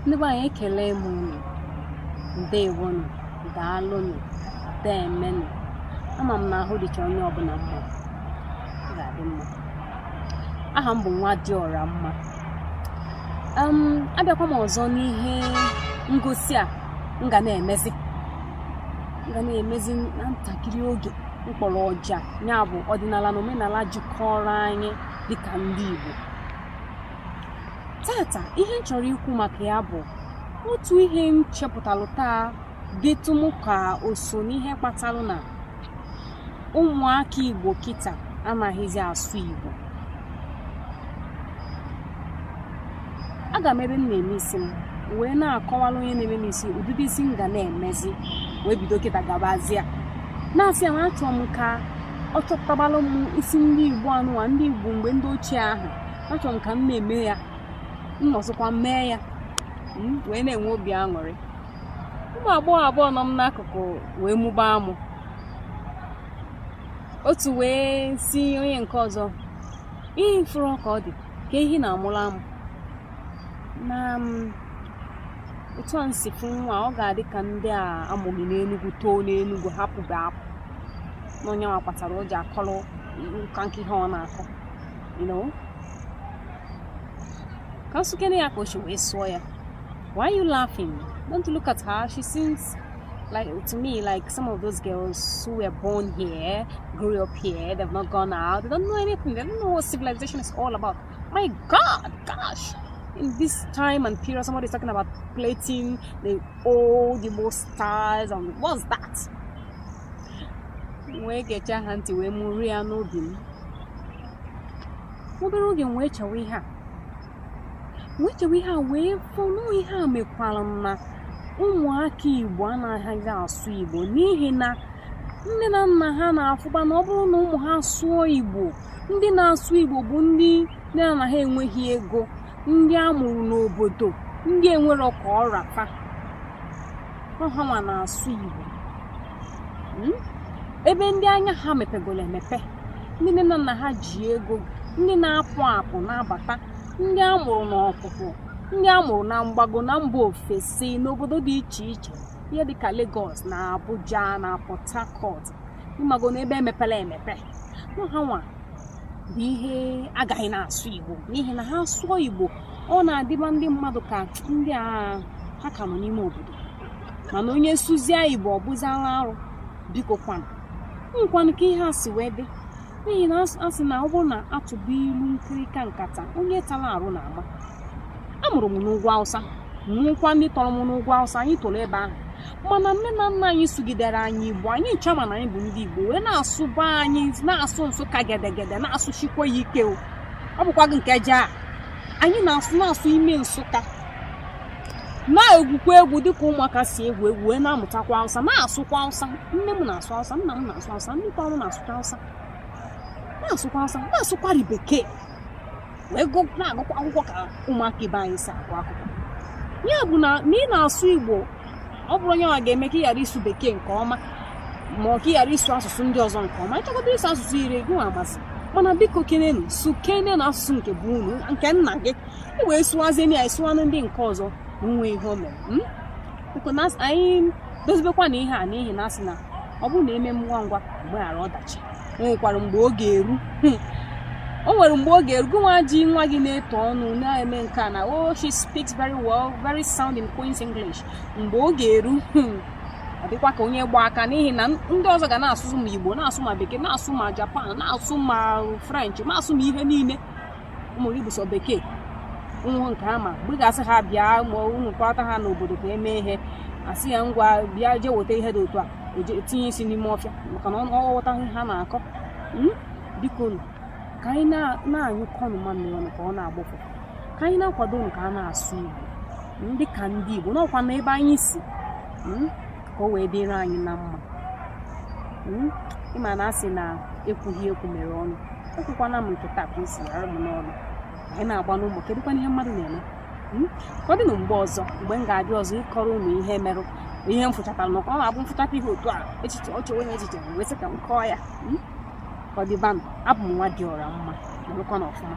ndị be anyị ekele m unu ndewonụ daalụnụ deemenụ ama m na ahụ dịcha onye ọbụla mma ga-adị mma aha m bụ nwadịọramma abịakwa m ọzọ n'ihe ngosi a m ga na-emezi m ga na-emezi na ntakịrị oge m kpọrọ ọja ya bụ ọdịnala na omenala jikọrọ anyị dịka ndị Igbo taata ihe m chọrọ ikwu maka ya bụ otu ihe m chepụtalụ taa dịtụ m ka o so n'ihe kpatalụ na ụmụaka Igbo kịta anaghịzi asụ Igbo aga m ebe m na-eme isi m wee na-akọwalụ onye na-eme m isi ụdịdị isi m ga na-emezi wee bido kịta gabazie na-asị ya na achọrọ m ka ọ chọpụtabalụ m isi ndị igbo anụwa ndị igbo mgbe ndị ochie ahụ achọrọ m ka m na-eme ya m nọsịkwa mee ya hmm, wee na-enwe obi aṅụrị ụmụ agbọghọ abụọ nọ m n'akụkụ wee mụba amụ otu wee si onye nke ọzọ ihe fụrụ ka ọ dị ka ihe na-amụrụ amụ na hmm, otu a m si fụ nwa ọ ga-adị ka ndị a amụghị n'enugwu too n'enugwu hapụbe apụ na onye nwa kpatara o ji akọrọ nka nke ihe ọ na-akọ you know ka nsụkene ya ka o si wee sụọ ya why are you laughing don't look at her she seems like to me like some of those girls who were born here grew up here they've not gone out they don't know anything they don't know what civilization is all about my god gosh in this time and period somebody's talking about plating the old the most stars and what's that wee gechaa ha ntị wee mụrụ ya n'obi m obere oge m wee chewe ihe a wee chewe ihe a wee fụ na ihe a mekwara na ụmụaka igbo anaghịzi asụ igbo n'ihi na nne na nna ha na-afụba na ọ bụrụ na ụmụ ha sụọ igbo ndị na-asụ igbo bụ ndị nne na nna ha enweghị ego ndị a mụrụ n'obodo ndị enwero ka ọ ra fa ha nwa na-asụ Igbo hmm? ebe ndị anya ha mepegoro emepe ndị nne na nna ha ji ego ndị na-apụ apụ na-abata ndị a mụrụ n'ọpụpụ ndị a mụrụ na mgbago na mba ofesi n'obodo dị iche iche ihe dịka Lagos na Abuja na Port Harcourt ịmago na ebe emepere emepe na ha nwa bụ ihe agaghị na-asụ igbo n'ihi na ha sụọ igbo ọ na-adịba ndị mmadụ ka ndị a ha ka nọ n'ime obodo mana onye sụzie igbo ọ bụziala arụ biko kwanụ nkwanụ ka ihe a si wee dị n'ihi na a sị na ọ bụrụ na a tụba ilu nkirika nkata onye tara arụ na-ama a mụrụ m n'ugwu awụsa mụkwaa ndị tọrọ m n'ugwu awụsa anyị toro ebe ahụ mana nne na nna anyị sụgidere anyị igbo anyị ncha ma na anyị bụ ndị igbo wee na-asụ be anyị na-asụ nsụka gedegede na-asụsikwa ya ike o ọ bụkwaghị nke jaa anyị na-asụ na-asụ ime nsụka na-egwukwa egwu dịka ụmụaka si egwu egwu wee na-amụtakwa awụsa na-asụkwa awụsa nne m na-asụ awụsa nna m na-asụ awụsa ndị tọrọ m na-asụkwa awụsa na-asụkwa awụsa na-asụkwari bekee wee na-agụkwa akwụkwọ ka ụmụaka ibe anyị si agụ akwụkwọ ya bụ na ị na-asụ igbo ọ bụrọ nya nwa ga-eme ka ị ghara ịsụ bekee nke ọma ma ọ ka ị ghara ịsụ asụsụ ndị ọzọ nke ọma ịchọkọta ịsụ asụsụ iri gị nwa amasị mana biko kenenu sụkenenụ asụsụ nke be unu nke nna gị i wee sụwazienụ ya sụwanụ ndị nke ọzọ nwe ihe o mere hmm? biko na anyị dozibekwa na ihe a n'ihi na a sị na ọ bụrụ na e mee ngwa ngwa e meghara ọdachi o nwekwara mgbe ọ ga-eru hmm. o nwere mgbe ọ ga-eru gị nwa ji nwa gị na-eto ọnụ na-eme nke a na o oh, she speaks very well very sound in Queen's English mgbe ọ ga-eru hmm. ọ dịkwa ka onye gba aka n'ihi na ndị ọzọ ga na-asụ ma Igbo na-asụ ma Bekee na-asụ ma Japan na-asụ ma French na-asụ ma ihe niile ụmụ gị bụ sọ bekee bụ nke ha ma mgbe ị ga-asị ha bịa ma unu kpọta ha n'obodo ka e mee ihe a sị ya ngwa bịa jee weta ihe dị otu a tinye isi n'ime ọfịa maka na ọ ghọtaghị ihe ha na-akọ hmm? biko ka anyị na-anyụkọnụ mamịrị ọnụ ka ọ na-agbọ ụfụfụ ka anyị na-akwadonụ ka a na-asụ Igbo dị ka ndị Igbo n'ọkwa na ebe anyị si hmm? ka o wee dịrị anyị na mma hmm? ị ma na a sị na ekwughị ekwu mere ọnụ ekwukwana m nke taa ka o si ra m n'ọnụ anyị na-agba n'ụmụ kedụkwanụ ihe mmadụ na-eme hmm? ka ọ dịnụ mgbe ọzọ mgbe m ga-abịa ọzọ ịkọrọ unu ihe merenụ ihe m fụchatara na ọ na-abụ m fụchata ihe otu a echiche ọ chọwa onye echiche wee sị ka m kọọ ya hmm? ka ọ dịbanụ abụ m Nwadịọramma nọrọkwanụ ọfụma